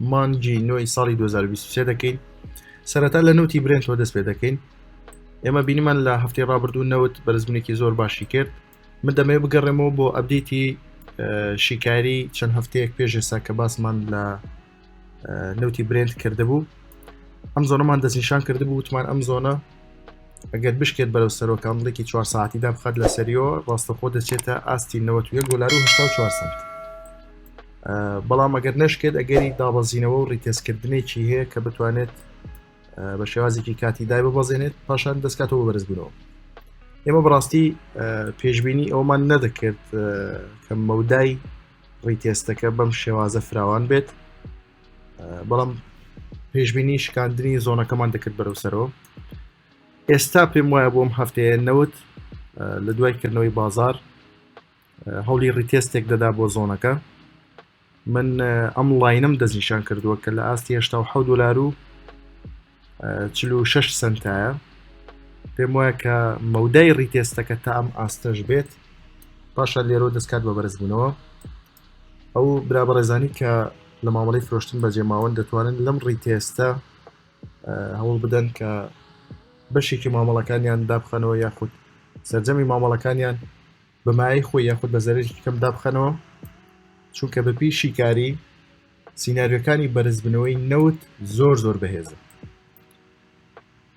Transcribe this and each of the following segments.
مانگی نۆی ساڵی 2023 دەکەین سەرەتا لە نوتی برنجەوە دەست پێ دەکەین ئێمە بینیمان لە هەفتەی ڕابردوو نەوت بەرزبوونێکی زۆر باشی کرد من دەمێ بگەڕێمەوە بۆ ئەبدیتی شیکاری چەند هەفتەیەک پێش ئێستا کە باسمان لە نوتی برند کردبوو ئەم زۆنەمان دەستنیشان کردبوو وتمان ئەم زۆنە ئەگەر بشکێت بەرەو سەرۆکانڵێکی 4 ساعتیدا بخات لە سەریۆ ڕاستەخۆ دەچێتە ئاستی 90 دلار و 4 سنت بەڵام ئەگەر نەشکێت ئەگەری دابەزینەوە و ڕیتێزکردنێکی هەیە کە بتوانێت بە شێوازێکی کاتی دای ببەزێنێت پاشان دەستکاتەوە بەرز بوونەوە ئێمە بڕاستی پێشببینی ئەومان نەدەکرد کە مەودای ڕیتێستەکە بەم شێوازە فراوان بێت بەڵام پێشببینی شکاندنی زۆنەکەمان دەکرد بەرەو سەرەوە ئێستا پێم وایە بۆم هەفتەیە نەوت لە دوای کردنەوەی بازار هەوڵی ڕیتێستێک دەدا بۆ زۆنەکە من ئەم لاینم دەستنیشان کردووە کە لە ئاستی هشتا و حەوت دلار و چل و شش سنتایە پێم وایە کە مەودای ڕیتێستەکە تا ئەم ئاستەش بێت پاشا لێرۆ دەستکات بە بەرزبوونەوە ئەو برا بەڕێزانی کە لە مامەڵی فرۆشتن بەجێ ماون دەتوانن لەم ڕیتێستە هەوڵ بدەن کە بەشێکی مامەڵەکانیان دابخەنەوە یاخود سرجەمی مامەڵەکانیان بە مایەی خۆی یاخود بە زەرەرێکی کەم دابخەنەوە چونکە بەپی شیکاری سینناریۆکانی بەرزبنەوەی نەوت زۆر زۆر بەهێزە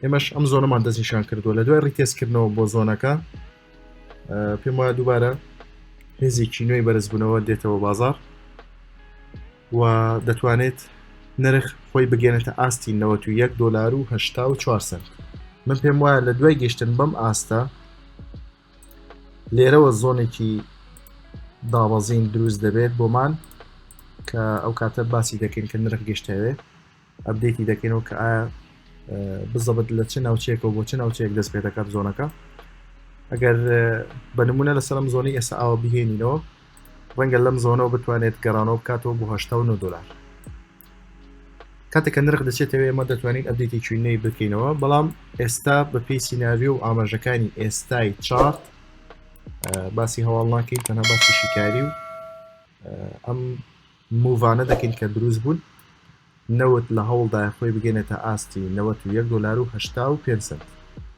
ئێمەش ئەم زۆنەمان دەستنیشان کردووە لە دوای ڕیتێزکردنەوە بۆ زۆنەکە پێم وایە دووبارە هێزێکی نوێی بەرزبوونەوە دێتەوە بازار و دەتوانێت نرخ خۆی بگەێنێتە ئاستی 91 دلار و 4 سنت من پێم وایە لە دوای گەشتن بەم ئاستە لێرەوە زۆنێکی دابەزین دروست دەبێت بۆمان کە ئەو کاتە باسی دەکەین کە نرخ گەشتەوێ ئەبدێتی دەکەینەوە کە ئایا بزەبت لە چ ناوچێکەوە بۆ چ ناوچەیەک دەست پێ دەکات زۆنەکە ئەگەر بە نمونە لەسەرم زۆنی ئێستا ئاوە بهێنینەوە ڕەنگە لەم زۆنەوە بتوانێت گەڕانەوە بکاتەوە بۆ هشتا دلار کاتێک کە نرخ دەچێتەوە ئێمە دەتوانین ئەبدێتێکی نوێی بکەینەوە بەڵام ئێستا بەپی سیناریۆ و ئاماژەکانی ئێستای چارت باسی هەواڵ ناکەین تەنها باسی شیکاری و ئەم موڤانە دەکەین کە دروست بوون نەوت لە هەوڵدا خۆی بگەێنە تا ئاستی 91 دلار و 5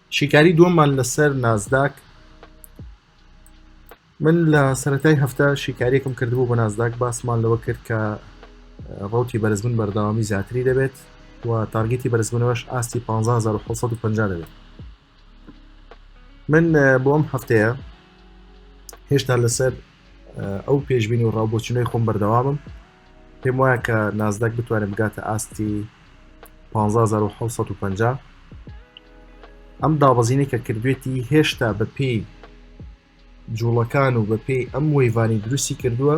شیکاری دووەمان لەسەر نازداک من لە سەتای هەفتە شیکاریەکم کردبوو بە نازداک باسمان لەوە کرد کە ڕوتی بەرزبن بەردەوامی زیاتری دەبێت و تارگەتی بەرزبنەوەش ئاستی 1550 دەبێت من بۆ ئەم هەفتەیە هێشتا لەسەر ئەو پێشببینی و ڕاوبۆچنەی خۆم بەردەوامم پێم وایە کە نازداک بتوانێت بگاتە ئاستی 1550 ئەم دابەزینی کە کردوێتی هێشتا بە پێی جوڵەکان و بەپێی ئەم وەیڤانەی دروستی کردووە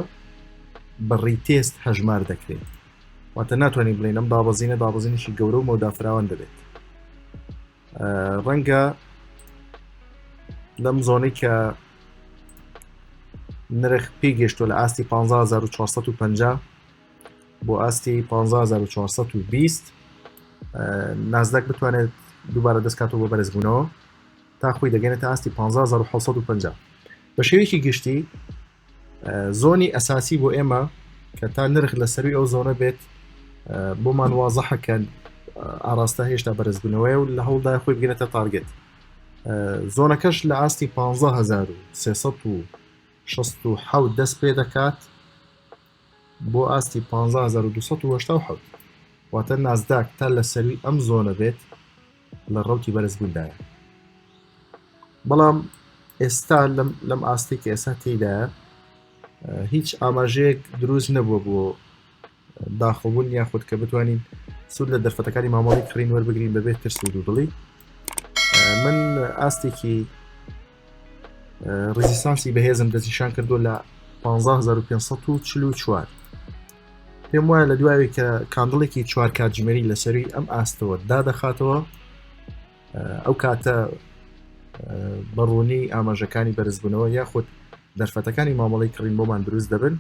بە ڕیتێست هەژمار دەکرێت واتە ناتوانین بڵێن ئەم دابەزینە دابەزینیشی گەورە و مەودافراوان دەبێت ڕەنگە لەم زۆنەی کە نرخ پێی گەشتوە لە ئاستی 15450 بۆ ئاستی 15420 نازدەک بتوانێت دووبارە دەستکاتەوە بە بەرزبوونەوە تا خۆی دەگەێنێتە ئاستی 15750 بە شێوەیەکی گشتی زۆنی ئەساسی بۆ ئێمە کە تا نرخ لە سەروی ئەو زۆنە بێت بۆمان وازەحەکەن ئاراستە هێشتا بەرزبوونەوەی و لە هەوڵدای خۆی بگرێتە تارگێت زۆنەکەش لە ئاستی 15360 دەست پێ دەکات بۆ ئاستی پانزە هەزار و دوو سەد و هەشتا و حەوت واتە نازداک تا لە سەروی ئەم زۆنە بێت لە ڕەوتی بەرزبووندایە بەڵام ئێستا لەم ئاستی کە ئێستا تێدایە هیچ ئاماژەیەک دروست نەبووە بۆ داخڵبوون یاخود کە بتوانین سود لە دەرفەتەکانی مامەڵی کڕین وەربگرین بەبێت ترس و دوودڵی من ئاستێکی ڕزیستانسی بەهێزم دەستنیشان کردو لە 1544 پێم وایە لە دوایە کە کاندڵێکی چوار کاتژمێری لەسەری ئەم ئاستەوە دادەخاتەوە ئەو کاتە بەڕوونی ئاماژەکانی بەرزبوونەوە یاخود دەرفەتەکانی مامەڵی کڕین بۆمان دروست دەبن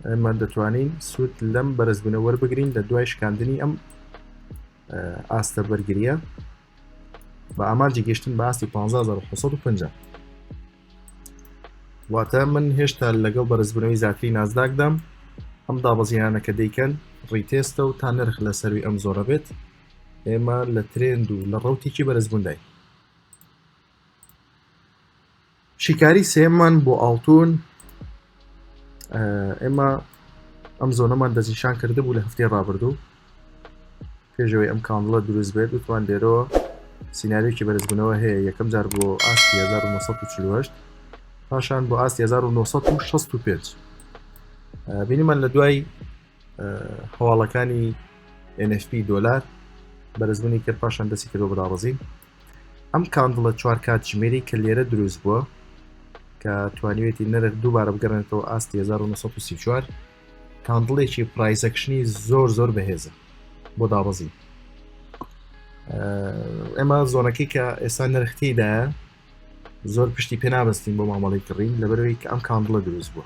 ئەمان دەتوانین سوود لەم بەرزبوونە وەربگرین لە دوای شکاندنی ئەم ئاستە بەرگریە بە ئامانجی گەشتن بە ئاستی 1550 واتە من هێشتا لەگەڵ بەرزبوونەوەی زیاتری نازداکدام ئەم دابەزیانە کە دەیکەن ڕیتێستە و تا نرخ لە سەروی ئەم زۆرە بێت ئێمە لە ترێند و لە ڕوتێکی بەرزبووندای شیکاری سێمان بۆ ئاڵتون ئێمە ئەم زۆنەمان دەستنیشان کرده بوو لە هەفتەی ڕابردوو پێشەوەی ئەم کاندڵە دروست بێت وتوان لێرەوە سینناریوکی بەرزبوونەوە هەیە یەکەم جار بۆ ئاستی 1940 پاشان بۆ ئاستی 1965 بینیمان لە دوای هەواڵەکانی NFP دۆلار بەرزبوونی کرد پاشان دەستی کردو بەداڕزین ئەم کاندڵە چوار کاتژمێری کە لێرە دروست بووە کە توانیوێتی نرخ دووبارە بگەڕێنێتەوە ئاستی 1934 کاندڵێکی پرایزەکشنی زۆر زۆر بەهێزە بۆ دابەزین ئێمە زۆنەکەی کە ئێستا نرختیدا زۆر پشتی پێ نابستین بۆ مامەڵی کڕین لەبەرەوەی کە ئەم کاندڵە دروست بووە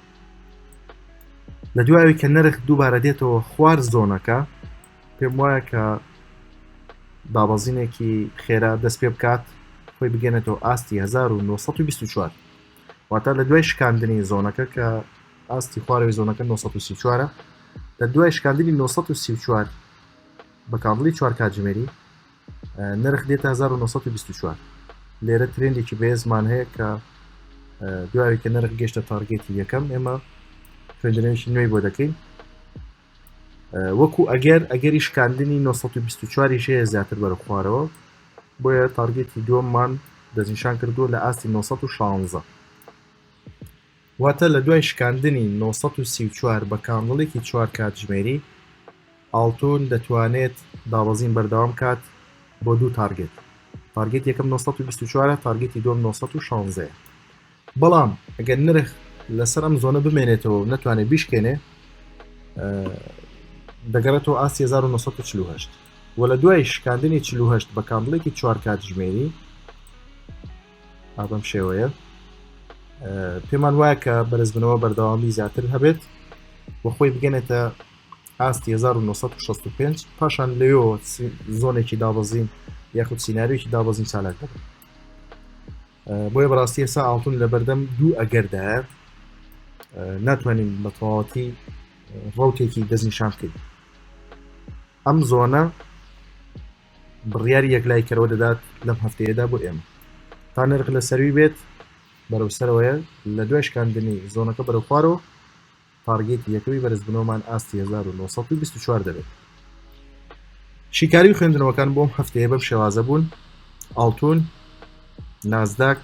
لە دوایوی کە نرخ دووبارە دێتەوە خوار زۆنەکە پێم وایە کە دابەزینێکی خێرا دەست پێ بکات خۆی بگەێنێتەوە ئاستی 1924 واتە لە دوای شکاندنی زۆنەکە کە ئاستی خوارەوەی زۆنەکە 1934 لە دوای شکاندنی 1934 بە کاڵی چوار کاتژمێری نرخ دێت 1924 لێرە ترندێکی بەێزمان هەیە کە دوای کە نرخ گەشتە تارگێتی یەکەم ئێمە خوێندنەوەیکی نوێی بۆ دەکەین وەکو ئەگەر ئەگەری شکاندنی 924 یش هەیە زیاتر بەرە خوارەوە بۆیە تارگێتی دووەممان دەستنیشان کردووە لە ئاستی 916 واتە لە دوای شکاندنی 934 بە کاندڵێکی چوار کاتژمێری ئاڵتون دەتوانێت دابەزین بەردەوام کات بۆ دوو تارگێت تارگێت یەکەم 924 تارگێتی دوم 916 بەڵام ئەگەر نرخ لەسەر ئەم زۆنە بمێنێتەوە و نەتوانێت بیشکێنێ دەگەڕێتەوە ئاستی 1940 و لە دوای شکاندنی 40 بە کاندڵێکی چوار کاتژمێری ئابم شێوەیە پێمان وایە کە بەرزبنەوە بەردەوامی زیاتر هەبێت و خۆی بگەنێتە ئاستی 1965 پاشان لەوێەوە زۆنێکی دابەزین یاخود سینناریوێکی دابەزین چالاک دەبن بۆیە بەڕاستی ئێسا ئاڵتون لە بەردەم دوو ئەگەردایە ناتوانین بە تەواوەتی ڕوتێکی دەستنیشان بکەین ئەم زۆنە بڕیاری یەکلایکەرەوە دەدات لەم هەفتەیەدا بۆ ئێمە تا نرخ لە سەروی بێت بەرەو سەرەوەیە لە دوای شکاندنی زۆنەکە بەرەو خوارەوە تاڕگێتی یەکەمی بەرزبوونەوەمان ئاستی 1924 دەبێت شیکاری خوێندنەوەکان بۆم هەفتەیە بەم شێوازە بوون ئاڵتون نازداک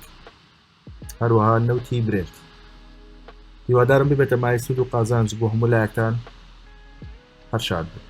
هەروەها نەوتی برێت هیوادارم ببێتە مای سوود و قازانج بۆ هەموو لایەکتان هەرشاد بوو